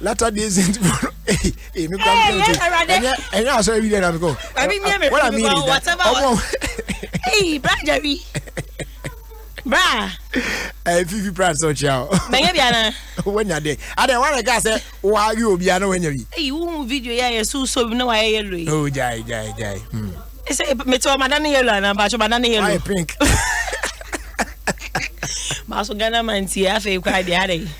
latter day saint fo no ee ee mi kura mi kura mi ɛnyɛ ɛnyɛ asɔre bi dɛ na mi kɔ wɔn a mi yiri da ɔmɔ. eyi bra jari bra. ɛɛ fifi prad sɛ ɔkyia o. mɛnyɛ bi ana. wɔn nya de adɛ wɔn a ka sɛ wɔn awi obi ana wɔn nya bi. eyi wuhu video yɛ yɛ so so bi na wɔn ayɛ yɛlo yi. o jai jai jai. ɛsɛ mɛtɛ wɔn adan ne yɛlo ana bàtɛ wɔn adan ne yɛlo. wɔn ayɛ pink. maa so ghana man ti yɛ afɛ ekura deɛ adɛ.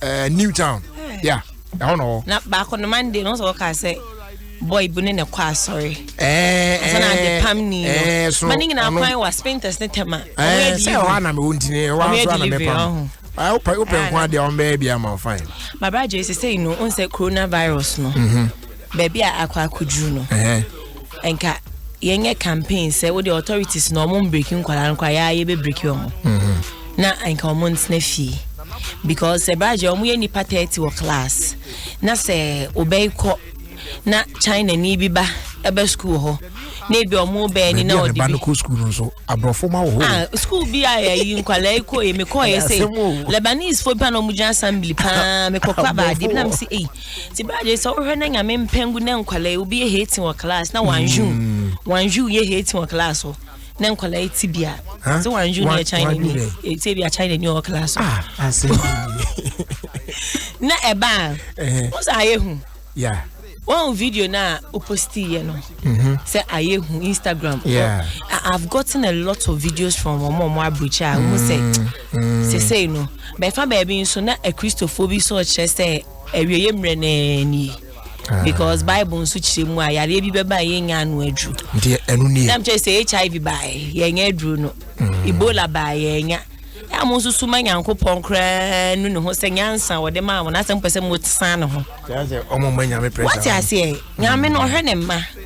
ɛɛ eh, new town ya ɛhɔ na ɔwɔ. na baako no mande na ɔsɛ ɔka sɛ boy bi ne ne kɔ asɔre. ɛɛ ɛɛ na ade pam ni no eh, so ma ne nyinaa kwan wa spinters ne tɛma. ɛɛ sɛ ɛhɔ anam ewu ntini ɛhɔ anso anam ɛpam wopɛ wopɛ nko adeɛ wɔn bɛyɛ bi ama fine. babra jɛ sese yi no n sɛ coronavirus no. Mm-hmm. Baabi a akɔ akɔduru no, nka yɛnyɛ campaign sɛ wode authorities na ɔmo mbreki nkwadaa no koraa yɛa yɛbɛbreki ɔmo mm-hmm. na nka ɔmo ntena fie because sɛ bragye ɔmo yɛ nipa thirty wɔ class na sɛ ɔbɛkɔ na china ni bi ba ɛbɛ sukuu hɔ na ebi ɔmo bɛɛ ni na ɔde bi ɛba no kɔ sukuu no nso aborɔfo ma wɔ hɔ ah sukuu bi a yɛyi nkwadaa yi kɔ yɛ mekɔ yɛ sɛ lebanese fo bi a na ɔmo gyina assembly paa mekɔ kɔ abaade bi na mo si eyi. ti baa de sɛ wohwɛ na nyame mpɛngu na nkwadaa yi obi yɛ hating wɔ class na wanju mm. wanju yɛ hating wɔ class hɔ na nkwadaa yi ti bia sɛ wanju na yɛ china ni eti ebi a china ni wɔ class hɔ ah, na ɛbaa wɔn sɛ ayɛ hu wɔn video na oposti yɛ no mhm. sɛ ayɛ hu instagram yeah. Oh, i have gotten a lot of videos from wɔn a wɔn aburukyi a wɔn sɛ. Mm. Seesei no, bɛfa baabi nso na Akristofoɔ bi nso rekyerɛ sɛ awieeɛ mmerɛ no ara nie. Ah. because bible nso kyerɛ mu a yareɛ bi bɛba a yɛnya ano aduru nti ɛno nie nam kyerɛ sɛ hiv baeɛ yɛnya aduru no mm. ebola baeɛ yɛnya a mo nso suma nyankopɔn koraa nu ne ho sɛ nyansa wɔde maa wɔn asɛm pɛ sɛ mo san ne ho wate aseɛ nyame no ɔhwɛ ne mma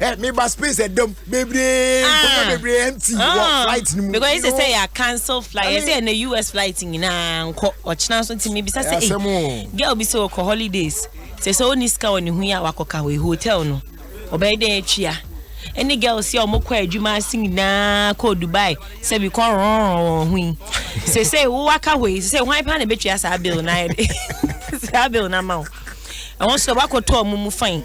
ẹ mi ba space ẹ dẹm bebree nkonnwa ah. bebree ẹ n ti wọ ah. flight ni mu. because ṣe ṣe yà cancel flight ẹ ṣe ẹ na us flight nyinaa nkọ ọ̀kyinà nso ti mi bisa ṣe ẹ girl bi sẹ ọkọ holidays ṣe ṣe ó ní sika wọ ne hu yà wakọ ka wọ hotel no ọbẹ̀ yẹ dẹ́ ẹ twi ya ɛne girls yɛ ɔmo kɔ adwuma ase nyinaa kɔ dubai sɛbi kɔ rɔnrɔn wɔn ho yi sese wo waka hɔ yi sese hwan paa na ebetwa saa bill na ayɛ de saa bill na ama wo ɛwɔ nso wakɔtɔ ɔmo mu fain.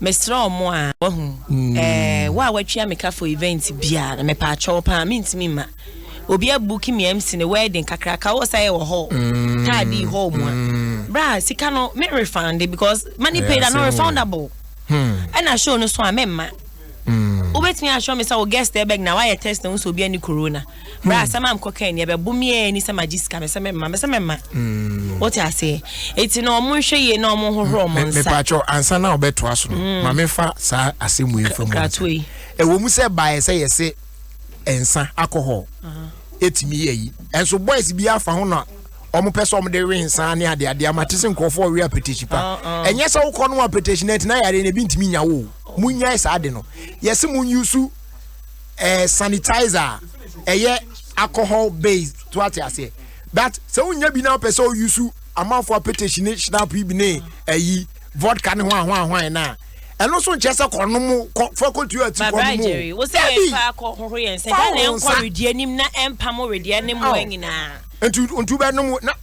Mesrɛ wo mo a wahu eh, wo a watwia me ka for event biara no mepɛ akyɛ wo paa mentumi mma obi abuki me MC ne wedding kakra ka wo sɛ wɔ hall mm. taa di hall mu a mm. bra sika no me refund it because money paid are not refundable ɛna hmm. show no so a mɛmma hmm. wobɛtumi akyerɛ me sɛ wo guest ɛbɛg na woayɛ test na wo sɛ obi ani corona bra hmm. sɛ ma mkɔ kan neɛ bɛbo meɛ ni sɛ magye sika mesɛ mɛma mesɛ mɛma hmm. wote aseɛ ɛti na ɔmo nhwɛ yie na ɔmo hohoro ɔmo nsa mepakyɛw ansa na ɔbɛtoa so no hmm. ma mefa saa asɛm mu ɛmfa mu ɛwɔ mu sɛ baeɛ sɛ yɛse nsa alcohol ɛtumi yɛ yi ɛnso boys bi afa ho na wɔn pɛ sɛ wɔn de we nsa ne ade ade ama te sɛ nkurɔfoɔ ɔwe apetesi pa oh, oh. ɛnyɛ sɛ wokɔ no apetesi na ɛtena yare na ebi ntumi nya wo mu nya saa de no yɛsi mu nyusu. eh, sanitizer a ɛyɛ alcohol based so ate aseɛ that sɛ wonya bi na wopɛ sɛ woyi so amanfoɔ apetahyi ne shinap yi bi ne ayi vodka ne ho ahoahoae no a ɛno nso nkyɛ sɛ kɔnom kɔ fa kɔtu ati kɔnom jerry wo sɛ yɛmfa akɔhohoro yɛn sɛ dɛn na ɛnkɔ wedeɛ nim na ɛmpa mo wedeɛ ne mmoa nyinaa ntu ntu bɛnom na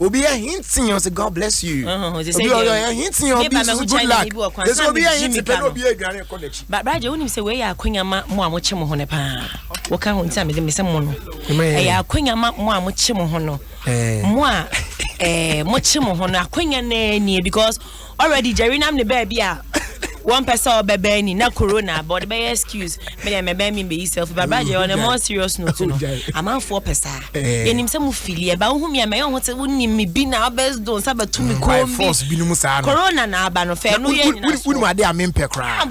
obi ahinti yɛn sɛ god bless you obi ɔyɛ ahinti yɛn obi nso good luck ɛsɛ obi ahinti pɛ na obi aduane ɛkɔ n'akyi. baabragye wonim sɛ wei yɛ akonya ma mo a mokye mo ho no paa woka ho nti a mede mesɛ mo no ɛyɛ akonya ma mo a mokye mo ho no mo a mokye mo ho no akonya naa nie because already Jerry nam ne baabi a wɔn pɛ sɛ ɔbɛbɛn ni na corona aba ɔde bɛyɛ excuse mi deɛ mɛbɛn mi mbɛyi selfie ba brajɛ on a more serious note no amanfoɔ pɛ saa eh. yɛnim sɛ mo fili ɛba wohu mi a mɛyɛ ɔho sɛ wonim mi bi na ɔbɛ do nsa bɛtu mi mm, kɔn bi corona na aba no fɛ no yɛ nyina so wonum adeɛ a mi mpɛ koraa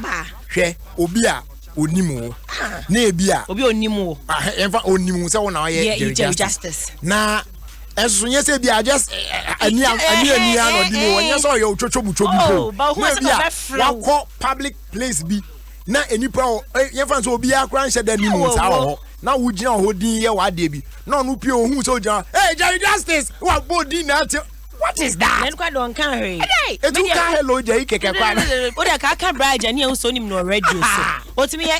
hwɛ obi a onim wo ah. na ebi a obi onim wo ah, ɛnfa onim wo sɛ wo na ɔyɛ jerry justice na. ɛsoso nyɛ sɛ bia just eh, eh, eh, ani ani ani ano ɔdi mu ɔnyɛ sɛ ɔyɛ otwotwo butwo bi po oh, na ebi a wakɔ public place bi na nipa yɛfa sɛ obiara koraa nhyɛ da nimu saa wɔ hɔ na wogyina hɔ din yɛ w'adeɛ bi na ɔno pie ohun sɛ ogyina hey jerry justice wa bɔ din na ate what is that. yẹn kọ́ dọ̀ nkan hwee. etu nka hello jẹ yi kẹkẹ kwan. o de ka aka bra jẹ ni ehun so ni mu na ọrẹ di o so o ti mi yẹ.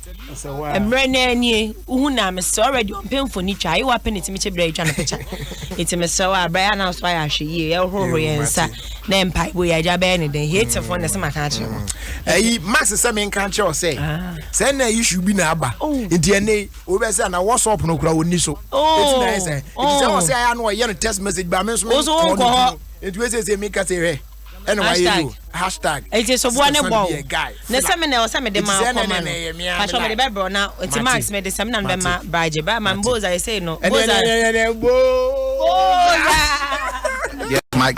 mmerɛ naa nie wohu naa mesrɛ already ɔmpɛ mfoni twa ayi wapɛ ne timi kyɛ berɛ atwa no pɛkya nti mesrɛ wɔ aberɛ yɛ anaa so ayɛ ahwɛ yie yɛhohoro yɛ nsa na mpa ibo yɛ agya bɛyɛ ne dɛn hateful na sɛ maka akyerɛ mo ayi max sɛ menka nkyerɛ wo sɛ sɛ na issue bi na aba nti ɛne wobɛ sɛ na whatsapp no kora wɔnni so ɛti na ɛsɛ ɛti sɛ wɔ sɛ ayɛ no ɔyɛ no text message ba me nso menkɔ no nti wɛsɛ sɛ meka sɛ hwɛ ɛna wayɛ no hashtag eti sɛ boa ne bɔ ne sɛ me na ɛwɔ sɛ mede ma akɔ ma no pasɔ mede bɛbrɛ na eti max mede sɛ me na no bɛma baagye bɛɛ ma boza ɛsɛ no boza boza.